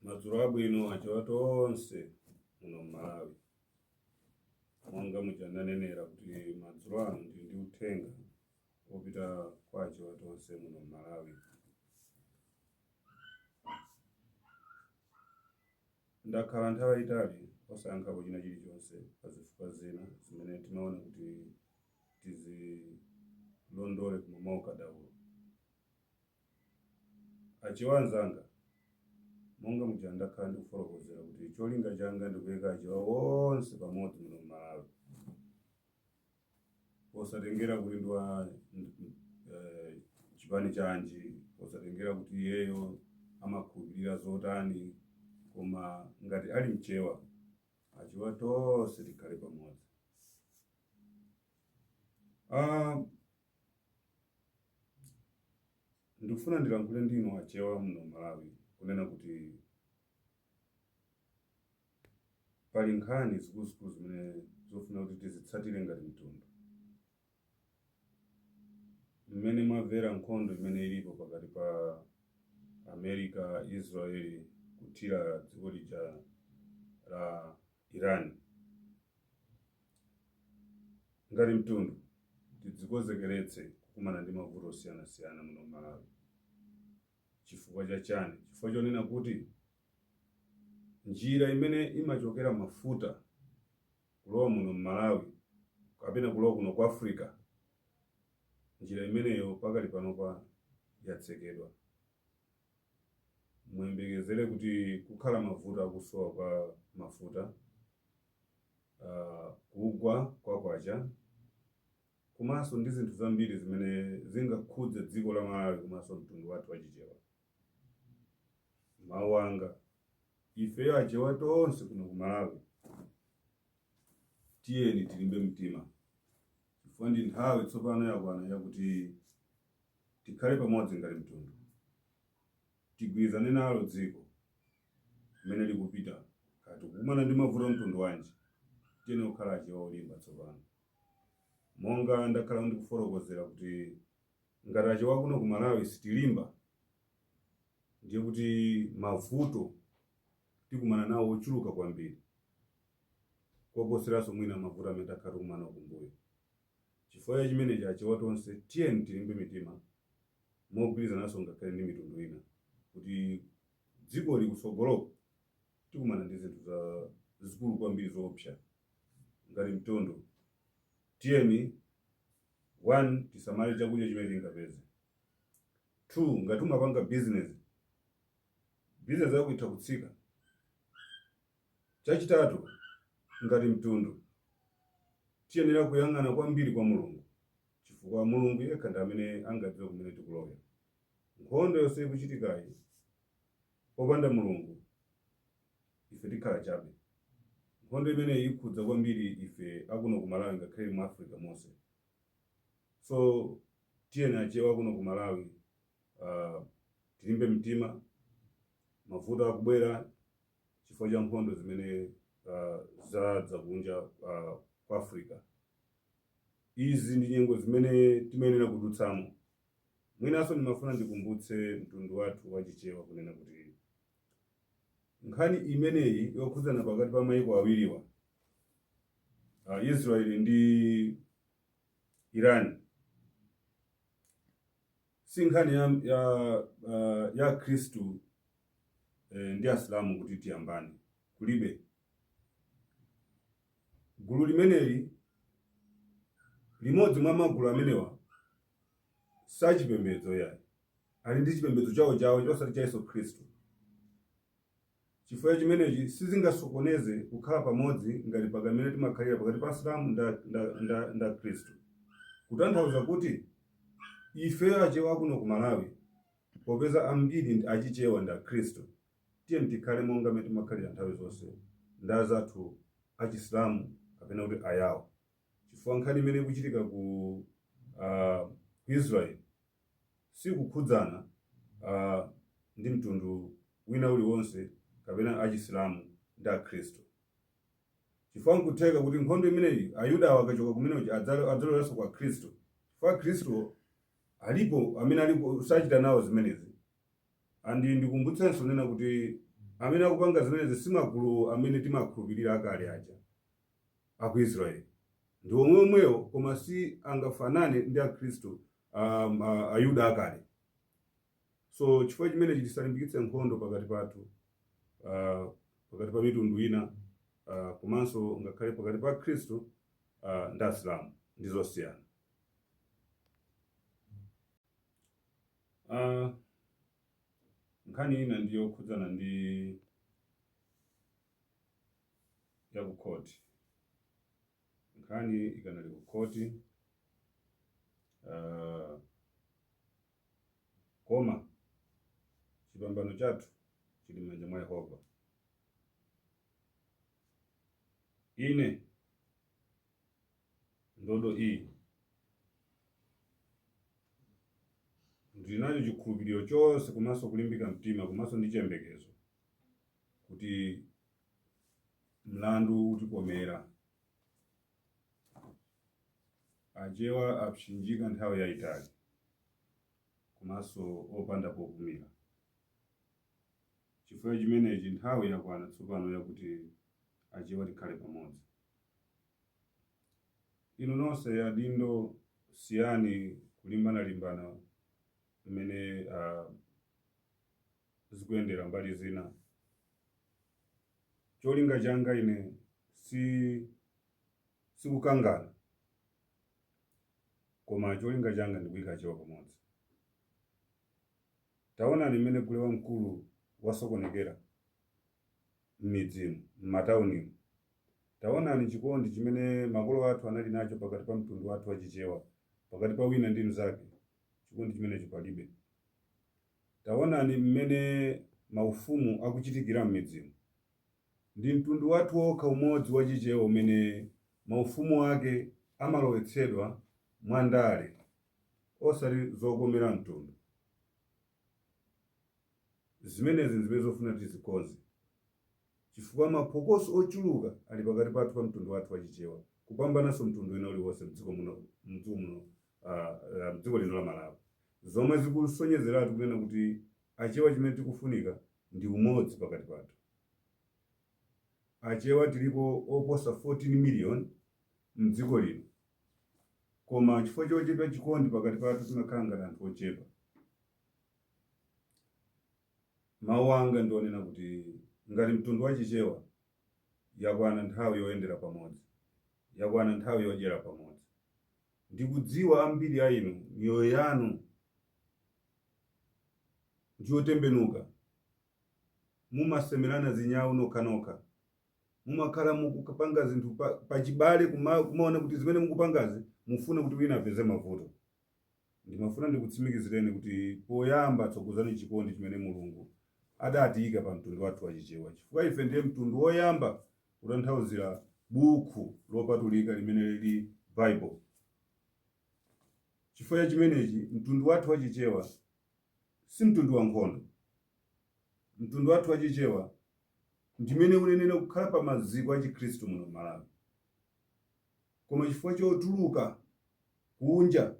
madzulo abwino achewa tonse muno m'malawi monga muja ndanenera kuti madzulo ano ndili ndi uthenga wopita kwa achewa tonse muno m'malawi ndakhala nthawi yayitali osayankhapo china chilichonse pa zifukwa zina zimene timaona kuti tizilondole kwa maukadaulo Achewa anzanga, monga muja ndakhala ndikufotokozera kuti cholinga changa ndikuyika achewa onse pamodzi muno m'malawi posatengera kuti ndi wa eh, chipani chanji posatengera kuti iyeyo amakhulupirira zotani koma ngati ali mchewa achewa tonse tikhale pamodzi Ah, Ndikufuna ndilankhule ndi inu achewa muno Malawi kunena kuti pali nkhani zikuluzikulu zimene zofuna kuti tizitsatire ngati mtundu. Mmene mwamvera nkhondo imene ilipo pakati pa America, Israel kuthira dziko lija la. Iran. Ngati mtundu, tidzikonzekeretse kukumana ndi mavuto osiyanasiyana muno m'Malawi. Chifukwa cha chani? Chifukwa chonena kuti njira imene imachokera mafuta kulowa muno m'Malawi kapena kulowa kuno ku Africa, njira imeneyo pakali panopa yatsekedwa. muyembekezere kuti kukhala mavuto akusowa kwa mafuta, uh, kugwa kwa kwacha komanso ndi zinthu zambiri zimene zingakhudze dziko la Malawi komanso mtundu wathu wa Chichewa. Mawu anga ifeyo Achewa tonse kuno ku Malawi tiyeni tilimbe mtima chifukwa ndi nthawi tsopano yakwana yakuti Tikhale pamodzi ngati mtundu. Tigwirizane nalo dziko mmene likupita. Kaya tikukumana ndi mavuto amtundu wanji, tiyenera kukhala achewa olimba tsopano. Monga ndakhala ndikufotokozera kuti ngati achewa kuno ku Malawi sitilimba, ndiye kuti mavuto tikumana nawo ochuluka kwambiri koposeranso mwina mavuto amene takhala tikumana nawo kumbuyo. Chifukwa cha chimenechi, Achewa tonse tiyeni tilimbe mitima mogwirizananso ngakhale ndi mitundu ina kuti dzikoli kutsogoloku tikumana ndi zinthu zazikulu kwambiri zoopsa ngati mtundu. Tiyeni, 1 tisamale chakudya chimene tingapeze, 2 ngati umapanga bizinezi, bizinezi yako itha kutsika. Chachitatu, ngati mtundu, tiyenera kuyang'ana kwambiri kwa Mulungu chifukwa Mulungu yekha ndi amene angadziwe kumene tikulowera. Nkhondo yonse ikuchitikayi, popanda Mulungu, ife tikhala chabe. Nkhondo imeneyi ikhudza kwambiri ife a kuno ku Malawi ngakhale mu Africa monse. So, tiyeni achewa kuno ku Malawi, ah, tilimbe mtima, mavuto akubwera, chifukwa cha nkhondo zimene uh, zadza kunja uh, kwa africa izi ndi nyengo zimene timayenera kudutsamo mwinanso ndimafuna ndikumbutse mtundu wathu wachichewa kunena kuti nkhani imeneyi yokhudzana pakati pa mayiko awiriwa uh, israeli ndi iran Si nkhani ya, ya, uh, ya Akhristu eh, ndi Asilamu kuti tiyambane, kulibe gulu limeneli. Limodzi mwa magulu amenewa sachipembedzo yayi, ali ndi chipembedzo chawo chawo chosati cha Yesu Khristu. Chifukwa cha chimenechi, sizingasokoneze kukhala pamodzi ngati pa kamene timakhalira pakati pa Asilamu nda nda nda nda Khristu. Kutanthauza kuti, ifeyo Achewa akuno ku Malawi, popeza ambiri ndi a Chichewa nda Khristu, tiyeni tikhale monga mmene timakhalira nthawi zonse nda zathu a Chisilamu kapena kuti Ayao. Chifukwa nkhani imene ikuchitika ku Israel. sikukhudzana a, ndi mtundu wina uliwonse kapena a Chisilamu ndi Akhristu. Chifukwa nkutheka kuti nkhondo imeneyi Ayudawo akachoka kumeneko adzalo, adzaloweranso kwa Akhristu chifukwa Akhristuwo alipo amene ali ku- sachita nawo zimenezi. And ndikumbutsenso kunena kuti amene akupanga zimenezi si magulu amene timakhulupirira akale aja a ku Israeli. Ndi omwe omwewo koma si angafanane ndi Akhristu um, a- ayuda akale so chifukwa cha chimenechi tisalimbikitse nkhondo pakati pathu uh, pakati pa mitundu ina uh, komanso ngakhale pakati pa akhristu uh, ndi asilamu ndi zosiyana uh, nkhani ina ndi yokhudzana ndi ya ku court nkhani ikanali ku khoti uh, koma chipambano chathu chili m'manja mwa yehova ine ndodo iyi ndili nacho chikhulupiriro chonse komanso kulimbika mtima komanso ndi chiyembekezo kuti mlandu utikomera. Achewa apsinjika nthawi yaitali komanso opanda popumira. Chifukwa cha chimenechi, nthawi yakwana tsopano yakuti Achewa tikhale pamodzi. Inu nonse adindo, siyani kulimbanalimbana mmene a zikuyendera mbali zina. Cholinga changa ine si sikukangana, koma cholinga changa ndikuyika achewa pamodzi. Taonani mmene gule wamkulu wasokonekera m'midzimu, m'mataunimu. Taonani chikondi chimene makolo athu anali nacho pakati pa mtundu wathu wa Chichewa, pakati pa wina ndi mnzake, chikondi chimenecho palibe. Taonani mmene maufumu akuchitikira m'midzimu. Ndi mtundu wathu wokha umodzi wa Chichewa umene maufumu ake amalowetsedwa mwa ndale osati zokomera mtundu. Zimenezi nzimene zofuna kuti tizikonze chifukwa maphokoso ochuluka ali pakati pathu pa mtundu wathu wa Chichewa kupambananso mtundu wina uliwonse m'dziko muno. ah, ah, mdziko lino la Malawi zomwe zikusonyezeratu kunena kuti achewa chimene tikufunika ndi umodzi pakati pathu achewa tilipo oposa 14 million mdziko lino koma chifukwa chochepa chikondi pakati pathu timakhala ngati anthu ochepa mawu anga ndionena kuti ngati mtundu wa chichewa yakwana nthawi yoyendera pamodzi yakwana nthawi yodyera pamodzi Ndikudziwa ambiri a inu miyoyo yanu ndiyotembenuka, mumasemerana zinyawu nokhanokha, mumakhala mukupanga zinthu pa pachibale kuma kumaona kuti zimene mukupangazi mufuna kuti wina apeze mavuto. Ndimafuna ndikutsimikizireni kuti poyamba tsogozani chikondi chimene Mulungu adatiyika pa mtundu wathu wa Chichewa chifukwa ife ndiye mtundu woyamba kutanthauzira Bukhu lopatulika limene liri Bible. Chifukwa cha chimenechi, mtundu wathu wa Chichewa si mtundu wa nkhondo. Mtundu wathu wa Chichewa ndimene unenera kukhala pa maziko a Chikristu muno m'Malawi. Koma chifukwa chotuluka kunja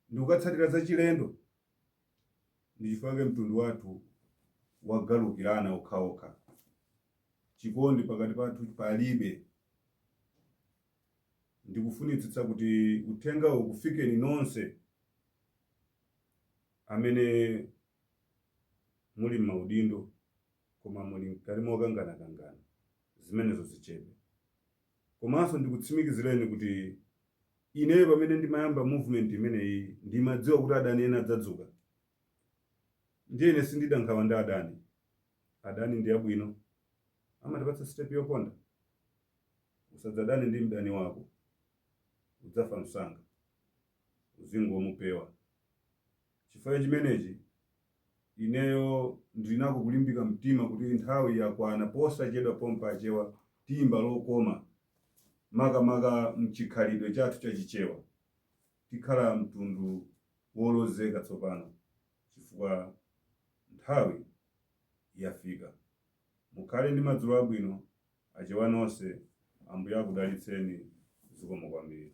ndi kukatsatira zachilendo, ndi chifukwa chake mtundu wathu wagalukirana okhaokha. chikondi pakati pathu palibe. Ndikufunitsitsa kuti uthengawu ukufikeni nonse amene muli m'maudindo koma muli mkati mokanganakangana, zimenezo zichepe. Komanso ndikutsimikizireni kuti ineyo pamene ndimayamba movement imeneyi ndimadziwa kuti adani ena adzadzuka. Ndiye ine sindida nkhawa ndi adani. Adani ndi abwino, amatipatsa sitepi yoponda. Usadzadane ndi mdani wako, udzafa msanga. Uzingomupewa. Chifukwa chimenechi, ineyo ndili nako kulimbika mtima kuti nthawi yakwana, posachedwa pompa Achewa tiimba lokoma, makamaka m'chikhalidwe chathu cha Chichewa. Tikhala mtundu wolozeka tsopano chifukwa. Nthawi yafika. Mukhale ndi madzulo abwino achewa nonse ambuye akudalitseni zikomo kwambiri.